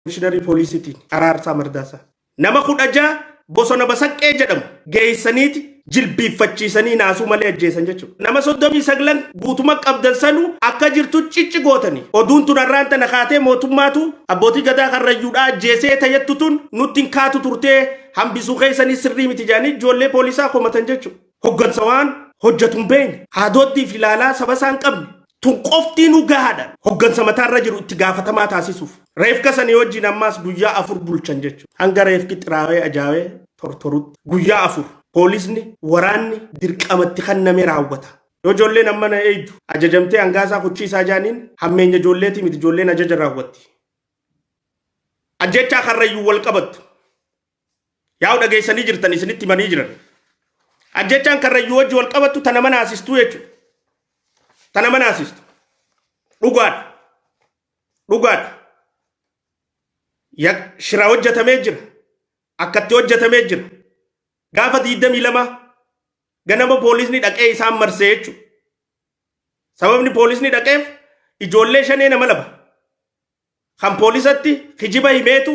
Komishiinarii Poolisiitiin Araarsaa Mardaasaa nama 16 bosona Basaqqee jedhamu geessaniiti jilbiiffachiisanii naasuu malee ajjeesan jechuudha. Nama 39 guutuma qabdan sanuu akka jirtu cicci gootanii oduun tun har'aan tana kaatee mootummaatu abbootii gadaa karrayyuudhaa ajjeesee tajettu tun nutti hin kaatu turtee hambisuu keessanii sirrii miti jedhanii ijoollee poolisaa komatan jechuudha. Hoggansa waan hojjatu hin beekne, haadooddii fi ilaalaa saba isaa hin qabne, tun qoftiinuu gahaadha. Hoggansa mataa irra jiru itti gaafatamaa taasisuuf. Reefka sanii wajjiin ammaas guyyaa afur bulchan jechuudha. Hanga reefki xiraawee ajaawee tortorutti. Guyyaa afur. Poolisni, waraanni dirqama itti kenname raawwata. Yoo ijoolleen ammana eeydu ajajamtee hangaa isaa kuchii isaa jaaniin hammeenya ijoolleetii miti ijoolleen ajaja raawwatti. Ajjeechaa Karrayyuun wal qabattu. Yaa'u dhageessanii jirtan isinitti himanii jiran. Ajjechaan karrayyuu wajji wal qabattu tana mana asistuu jechuudha. Tana mana asistu. Dhugaadha. Dhugaadha. Ya- Shira hojjetamee jira. Akkatti hojjetamee jira. Gaafa 22 ganama poolisni dhaqee isaan marsee jechuudha. Sababni poolisni dhaqeef ijoollee shanee nama laba. Kan poolisatti kijiba himeetu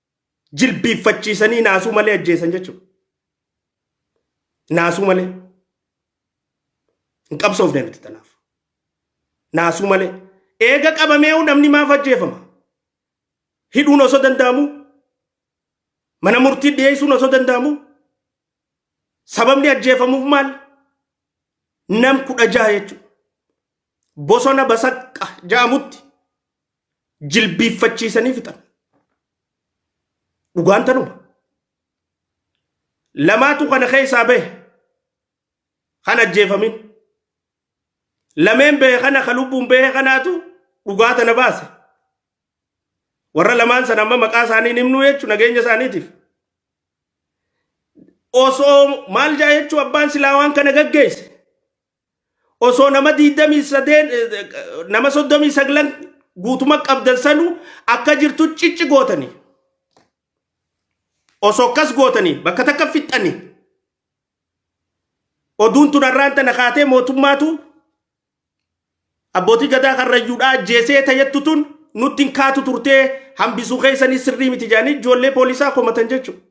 jilbiiffachiisanii naasuu malee ajjeesan jechuudha. Naasuu malee. Hin qabsoofne nuti tanaaf. Naasuu malee. Eega qabameehu namni maaf ajjeefama? Hidhuun osoo danda'amu? Mana murtii dhiyeessuun osoo danda'amu? Sababni ajjeefamuuf maal? Nam kudha jaha jechuudha. Bosona basaqqa ja'amutti jilbiiffachiisanii fixan. Dhugaan tanuma. Lamaatu kana keessaa bahe kan ajjeefamin. Lameen bahe kana kan lubbuun bahe kanaatu dhugaa tana baase. Warra lamaan sana amma maqaa isaanii hin himnu jechuun nageenya isaaniitiif. Osoo maal jaa jechuun abbaan silaa waan kana gaggeesse. osoo nama 28 nama 39 guutuma qabdan sanu akka jirtu cicci gootanii osoo akkas gootanii bakka takka fixxanii oduun tun har'aan tana kaatee mootummaatu abbootii gadaa karrayyuudhaa ajjeesee tayyattu tun nutti hin kaatu turtee hambisuu keessanii sirrii miti jaanii ijoollee poolisaa komatan jechuudha.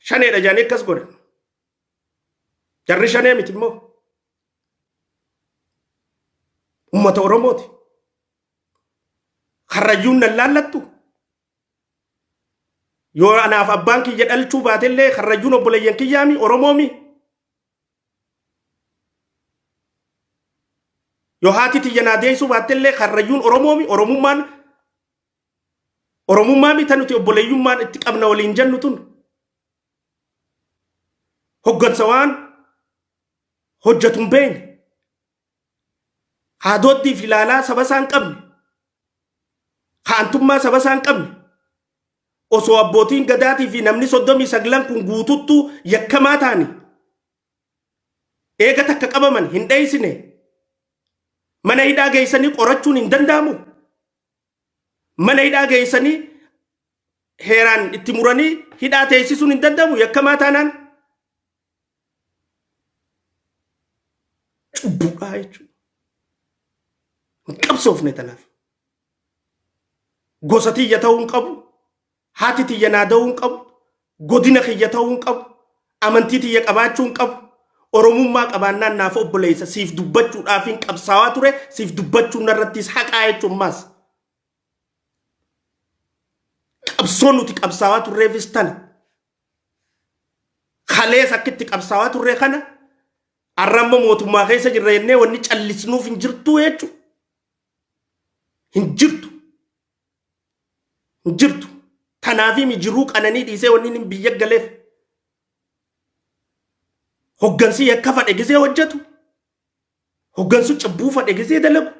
Shaneedha jaanii akkas godhan. Jarri shanee miti immoo uummata Oromooti. Karrayyuun nan laallattu. Yoo anaaf abbaan kiyya dhalchuu baatellee karrayyuun obboleeyyan kiyyaami Oromoomi. Yoo haati tiyya naa deessuu baattellee karrayyuun Oromoomi Oromummaan Oromummaa mita nuti obboleeyyummaan itti qabna waliin jennu tun. hoggansa waan hojjetu hin beekne haadooddii fi ilaalaa saba isaa hin qabne haantummaa saba isaa hin qabne osoo abbootiin gadaatii fi namni soddomii saglan kun guututtu yakkamaa taani eega takka qabaman hin dheeysine mana hidhaa geeysanii qorachuun hin danda'amu mana hidhaa geessanii heeraan itti muranii hidhaa teessisuun hin danda'amu yakkamaa taanaan cubbuudhaa jechuudha. Hin qabsoofne tanaaf. Gosa tiyya ta'uu hin qabu. Haati tiyya naa da'uu hin qabu, godina kiyya ta'uu hin qabu, amantii tiyya qabaachuu hin qabu, Oromummaa qabaannaan naaf obboleessa, siif dubbachuudhaafin qabsaawaa ture, siif dubbachuun narrattis haqaa jechuun maas. Qabsoon nuti qabsaawaa turreefis tana. Kalees akka itti qabsaawaa turre kana har'a amma mootummaa keessa jirra jennee wanni callisnuuf hin jirtu jechuudha. Hin jirtu. hin jirtu. Tanaafimi jiruu qananii dhiisee wanni inni biyya galeef hoggansi yakka fadhe gisee hojjetu hoggansu cubbuu fadhe gisee dalagu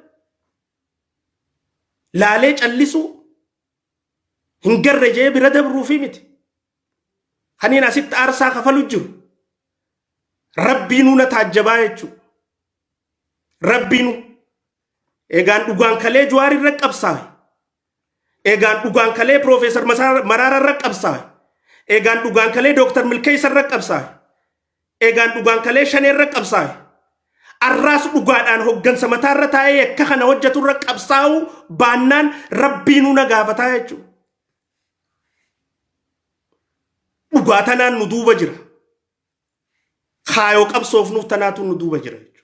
laalee callisuu hin garre jee bira dabruufi miti. Kaniin asitti aarsaa kafalu jiru rabbiinuu na taajjabaa jechuudha. Rabbiinuu Egaan dhugaan kalee Jawaar irra qabsaawe. Egaan dhugaan kalee Piroofeesar Maraara irra qabsaawe. Egaan dhugaan kalee Dooktar Milkeessa irra qabsaawe. Egaan dhugaan kalee Shanee irra qabsaawe. Arraas dhugaadhaan hoggansa mataa irra taa'ee akka kana hojjetu irra qabsaa'uu baannaan rabbiinuu na gaafataa jechuudha. Dhugaa tanaan nu duuba jira. kaayoo qabsoofnuuf tanaatu nu duuba jira jechuudha.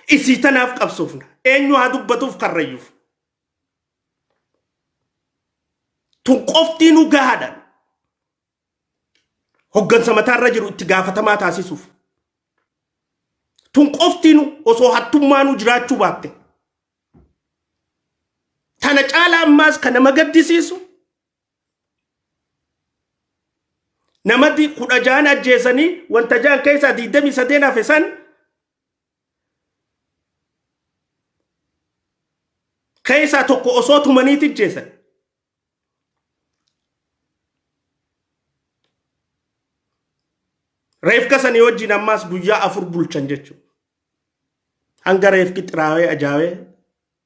Isii tanaaf qabsoofna. Eenyu haa dubbatuuf karrayyuuf. Tun qoftii nu gahaadha. Hoggansa mataarra jiru itti gaafatamaa taasisuuf. Tun qoftii nu osoo hattummaa nu jiraachuu baatte. Tana caalaa ammaas kan nama gaddisiisu namati kudha jaan ajjeesanii wanta jaan keessaa diidamii sadeen hafe san keessaa tokko osoo tumaniiti ajjeesan. Reefka sanii wajjin ammaas guyyaa afur bulchan jechuudha. Hanga reefki xiraawee ajaawee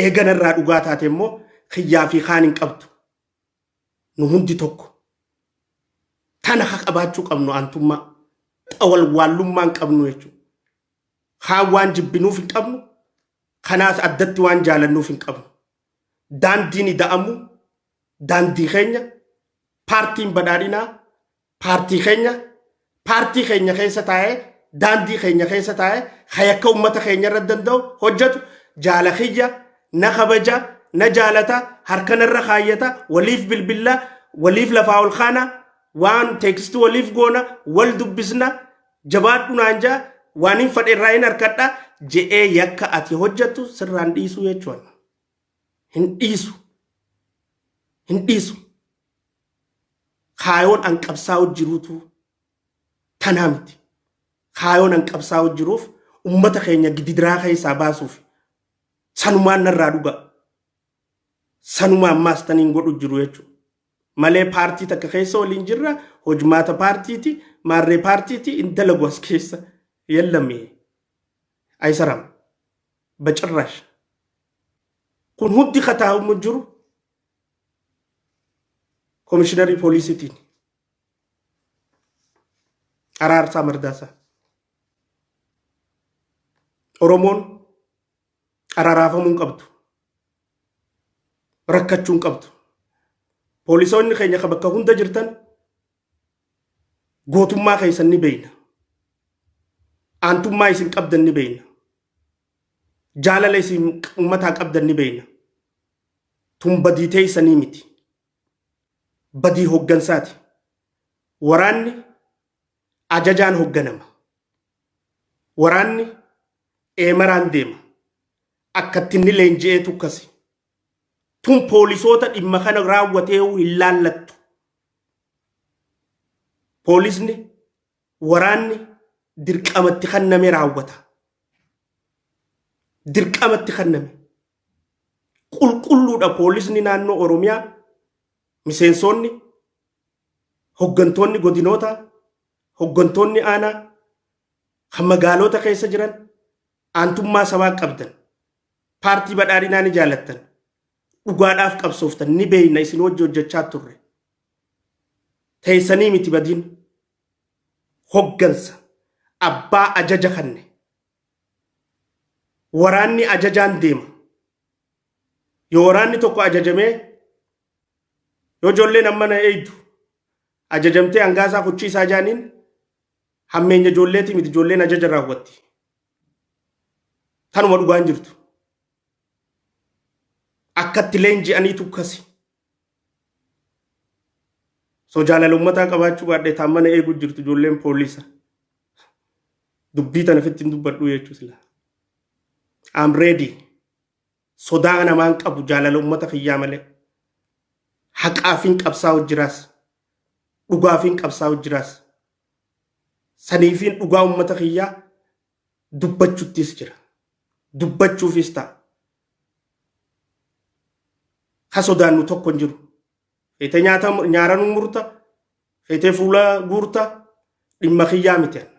Eega narraa dhugaa taate immoo kiyyaa fi kaan hin qabdu. Nu hundi tokko. Tana ka qabaachuu qabnu aantummaa. Ta walwaallummaa hin qabnu jechuudha. Kaan waan jibbinuuf hin qabnu, kanaas addatti waan jaalannuuf hin qabnu. Daandiin ida'amuu daandii keenya, paartiin badhaadhinaa paartii keenya paartii keenya keessa taa'ee daandii keenya keessa taa'ee hayakka uummata keenya irra danda'u hojjetu jaala kiyya na kabaja na jaalata harkanarra kaayyata waliif bilbilla waliif lafaa ol kaana waan teekisti waliif goona wal dubbisna jabaadhu naan jaa waan hin fadhe irraa hin harkadha je'ee yakka ati hojjettu sirraan dhiisuu jechuudha. Hin dhiisu. Hin dhiisu. kaayoon an qabsaa'u jiruutu tanaa miti. Kaayoon an qabsaa'u jiruuf ummata keenya gididiraa keessaa baasuuf sanumaan narraa dhugaa. Sanuma ammaas taniin godhu jiru jechuudha. Malee paartii takka keessa waliin jirra hojmaata paartiiti maarree paartiiti hin dalagu as keessa yellame aysaram bacirraash. Kun hundi kataa'umu jiru Komishinarri poolisiitiin Araarsaa Mardaasaa Oromoon araaraafamuu hin qabdu. Rakkachuu hin qabdu. Poolisoonni keenya kan bakka hunda jirtan gootummaa keessan ni beekna. Aantummaa isin qabdan ni beekna. Jaalala isin uummataa qabdan ni beekna. Tun badii teeysanii miti. Badii hoggansaati. Waraanni ajajaan hogganama. Waraanni eemaraan deema. Akkatti inni leenji'eetu akkasi. Tun poolisoota dhimma kana raawwateehu hin laallattu. Poolisni waraanni dirqamatti kanname raawwata. Dirqamatti kanname. Qulqulluudha poolisni naannoo Oromiyaa miseensoonni hoggantoonni godinootaa hoggantoonni aanaa kan magaaloota keessa jiran aantummaa sabaa qabdan paartii badhaadhinaa ni jaalattan dhugaadhaaf qabsooftan ni beeyna isin wajji hojjechaa turre teessanii miti badiin hoggansa abbaa ajaja kanne waraanni ajajaan deema. Yoo waraanni tokko ajajamee yoo ijoolleen amma na eeydu ajajamtee hangaa isaa kuchii isaa jaaniin hammeenya ijoolleetii miti ijoolleen ajaja raawwatti. Tanuma dhugaan jirtu. Akkatti leenji'aniitu kasi. So jaalala ummataa qabaachuu baadhee taan mana eeguu jirtu ijoolleen poolisa. Dubbii tana fitti hin dubbadhuu jechuu sila. I'm ready. Sodaa namaan qabu jaalala ummata kiyyaa malee. Haqaafiin qabsaa'u jiraas. Dhugaafiin qabsaa'u jiraas. Saniifiin dhugaa ummata kiyyaa dubbachuttis jira. Dubbachuufis ta'a. Ka sodaannu tokko hin jiru. Feetee nyaata nyaaranuu murta, feetee fuula guurta, dhimma kiyyaa miti anna.